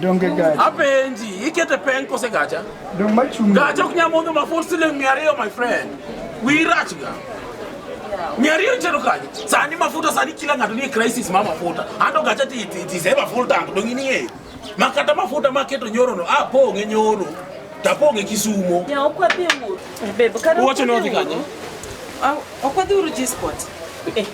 Donge gacha. Apenji, ikete peng kose gacha? Dong machung. Gacha ok nyal modho ma force siling mia ariyo my friend. Wi rach ga. Mia ariyo chero kanye? Sani mafuta sani kila ng'ato nie crisis ma mafuta. Ando gacha ti ti ti sema full tank dong ini ye. Makata mafuta maketo nyoro no apong' e nyoro. Tapong' e Kisumo. Ya ok wadhi wuoth. Bebe, kata Uwacho ni wadhi kanye? Ah, Ok wadhi uru G-Spot.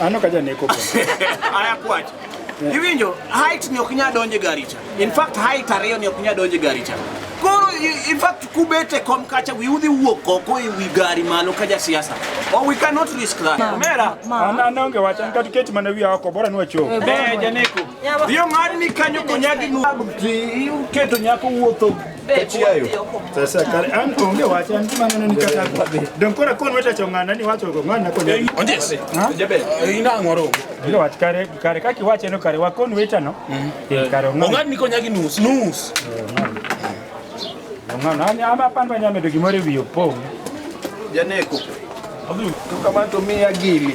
Ano ka janeko bro. Aya kwach. Yeah. Iwinjo height ni ok nya donje gari cha. In fact height ariyo ni ok nya donje gari cha. Koro in fact kubete kom kacha wi udhi wuok oko e wi gari malo ka ja siasa. Oh we cannot risk that. Mera. Ana ana onge wacha nika tiketi mana wi oko bora nwa cho. Eh janeko. Yo ngani kanyo konyagi nu. Keto nyako wuotho Sasa kare an onge wacha an kima neno nikata don kora kon weta chongana ni wacho go ngana kon eh, onjes jabe eh, ina ngoro bila wach kare kare kaki wache no kare wakon weta no mm. eh, kare ngana ni konya gi nus nus ngana ani ama pan banya medo gi more wiyo pom janeko tukamanto miya gili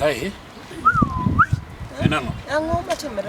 Kae. Enano. Ang'o matimre?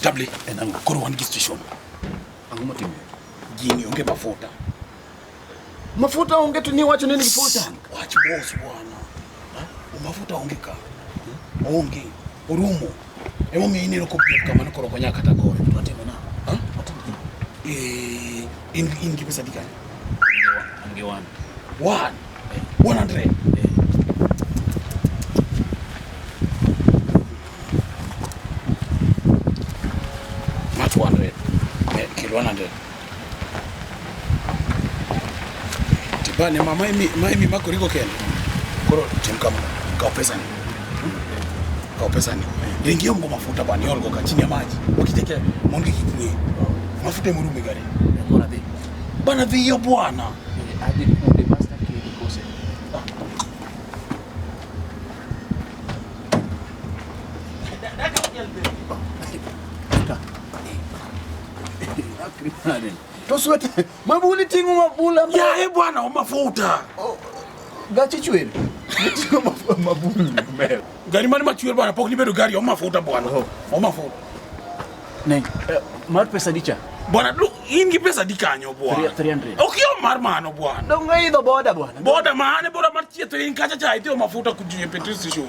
Table and I'm going one station. I'm going to jini onge mafuta. Mafuta onge tu ni wacho nini mafuta? Wacho boss bwana. Umafuta onge ka. Onge. Orumo. Emo mi iniro ko pia kama nokoro konya kata gore. Twatime na. Ha? Eh, in in kipesa dikani. Ange one. One. Eh. One hundred. Eh. Not one hundred. Eh, kilo one hundred. Tibane ma maimi maimi mako riko ken. Koro tim kama. Kao pesa ni. Kao pesa ni. Ringi yomgo mafuta bani yolgo ka chini ya maji. Wakiteke mongi kikwe. Mafuta imurume gari. Bora dhi. Bana dhi yo bwana. Adhi kumbe master key kose. Daka ujelbe. Tosweta mabuli tingu mabula. Ya e bwana o mafuta. Oh, gachi chwele. Tingu mafuta mabuli mbele. Gari mani machwele bwana pok nibedo gari o mafuta bwana. Oh. O mafuta. Ne, eh, mar pesa dicha. Bwana lu in gi pesa dikanyo bwana. 300. Ok yo mar mano bwana. Dongo idho boda bwana. Boda mane boda mar chieto in kacha cha itio mafuta kujie petrol station.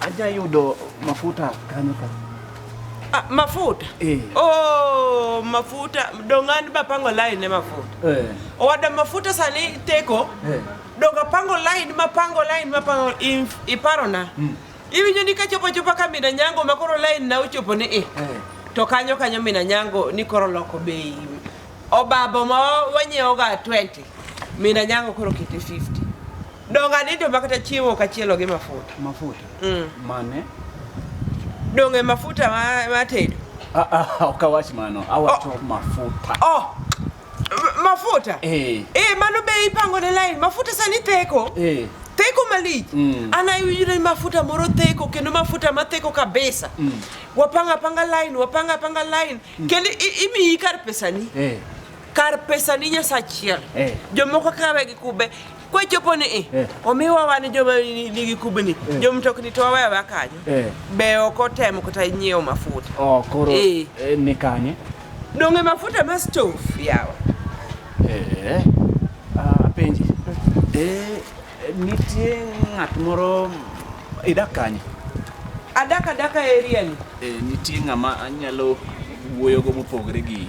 Aja yudo mafuta kanyo ka. Ah, mafuta eh. Oh, mafuta dongan bapango line ne mafuta eh. Owada mafuta sani teko eh. Donga pango line mapango line mapango iparona mm. Iwinjo ni kachopo chopa ka mina nyango makoro line na uchopo ni eh. eh. To kanyo kanyo mina nyango ni koro loko bei obabo ma wanyiewoga 20 mina nyango koro kete 50 Donge adito ma kata chiemo ok achielo gi mafuta. Mafuta. Mm. Mane? Donge mafuta ma, ma tedo. Ah ah, ok awach mano. Awacho oh. mafuta. Oh. Mafuta? Eh. Eh, mano be ipango ne line. Mafuta sani theko. Eh. Theko malich. Mm. Ana iwinjo mafuta moro theko kendo mafuta ma theko kabisa. Mm. Wapanga panga line, wapanga panga line. Mm. Kendo imiyi kar pesani. Eh. Kar pesani nyasachiel. Eh. Jomoko kawe gi kube. kwachopo ni eh, eh. omiwa wan joma nigi kubni eh. jo mtokni to waweya wa kanyo eh. be ok otemo kata nyiewo mafuta oh, koro eh. eh, ni kanye donge mafuta ma stove yawa eh, ah, penji eh, nitie ng'at moro idak kanye adak adaka area ni eh, nitie ng'ama anyalo wuoyogo mopogre gi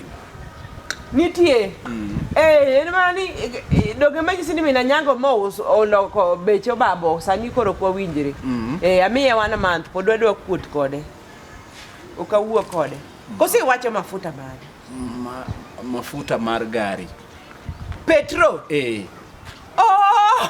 Nitie. Mm. Eh, en mana ni eh, doge ma nyisi ni mina nyango ma oloko beche obabo sani koro kwa winjre. Mm. Eh, amiye wan month pod wadwa kuot kode. Ok awuo kode. Mm. Kosi iwacho mafuta mane? Ma, mafuta mar gari. Petro? Eh. Oh!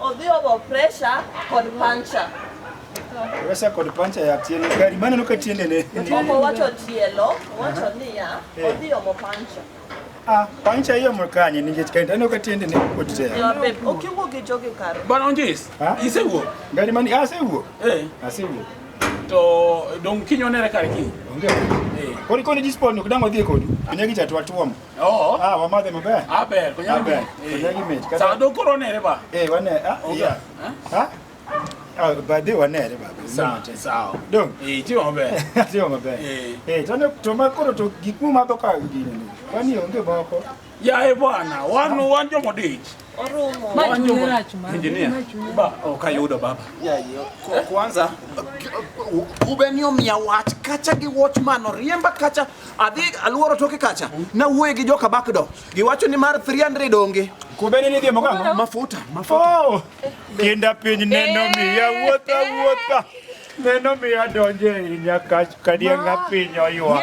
Odhi obo pressure kod puncture. Pressure kod puncture ya tiende gari mane nuka tiende ne. Obo wacho tielo, wacho niya, eh. odhi obo puncture. Ah, puncture hiyo mkanye ninge chikaenda nuka tiende ne kote. Ya babe, ukiwo gijoge karo. Bana onjis. Isewo. Gari mani asewo. Ah, eh. Asewo. Ah, to dong kinyo nere kar ki. Onge. Eh. Kori koni dispon ok dango dhie kodu. Anyagi chatwa tuomo. Oo. Ah, wamade maber. Aber, kunya Aber. ber. Kunya gi mit. Sa do koro nere ba. Eh, wane. Ah, oga. Yeah. Ha? Ah, ba de wane re ba. Sa, sa. Dong. Eh, ti wambe. Ti wambe. Eh. Eh, to ne to ma koro to gik mu ma do ka gini. Wani onge boko. Ya e bwana, wan wan jomo dich. Okayudo baba. Kwanza kubenio mia wach kacha gi wach mano riemba kacha adhi aluoro toke kacha na wuoye gi joka bakdo giwacho ni mar 300 onge kubeni ni dhiemo kang'o mafuta mafuta oh! kinda piny neno eh! miya wuotha wuotha neno miya donje inya kach kadianga piny oywa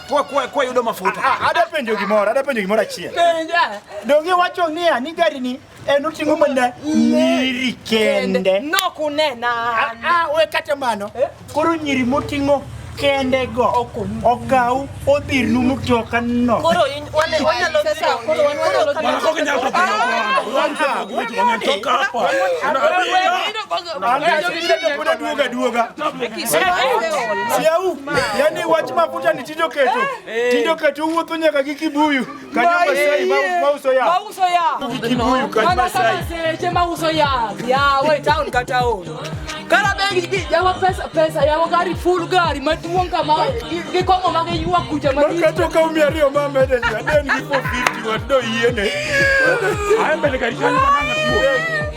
Kwa kwa kwa yudo mafuta. Ah, ah, ada penjo gimoro, ada penjo gimoro achiel. Penja. Donge wacho niya ni gari ni en oting'o mana nyiri kende. Nok unena. Ah, ah we kata mano. Eh? Koro nyiri moting'o kende go okaw odhir nu mutoka no koro in wale wale lo sasa koro wale wale lo kama koko nyako kama kwa wanatoka hapa duoga duoga siau yani wach mafuta ni tindo keto eh. tindo keto wuotho nyaka gi kibuyu kanyo masai mauso ya mauso ya gi kibuyu kanyo masai seche mauso ya ya we town kata o kara bengi yawa pesa pesa yawa gari full gari maduong kama gi kongo ma gi yuwa kuja ma gi kato ka umi ariyo ma mede ya den gi 450 wado yiene ayo mbele gari kanyo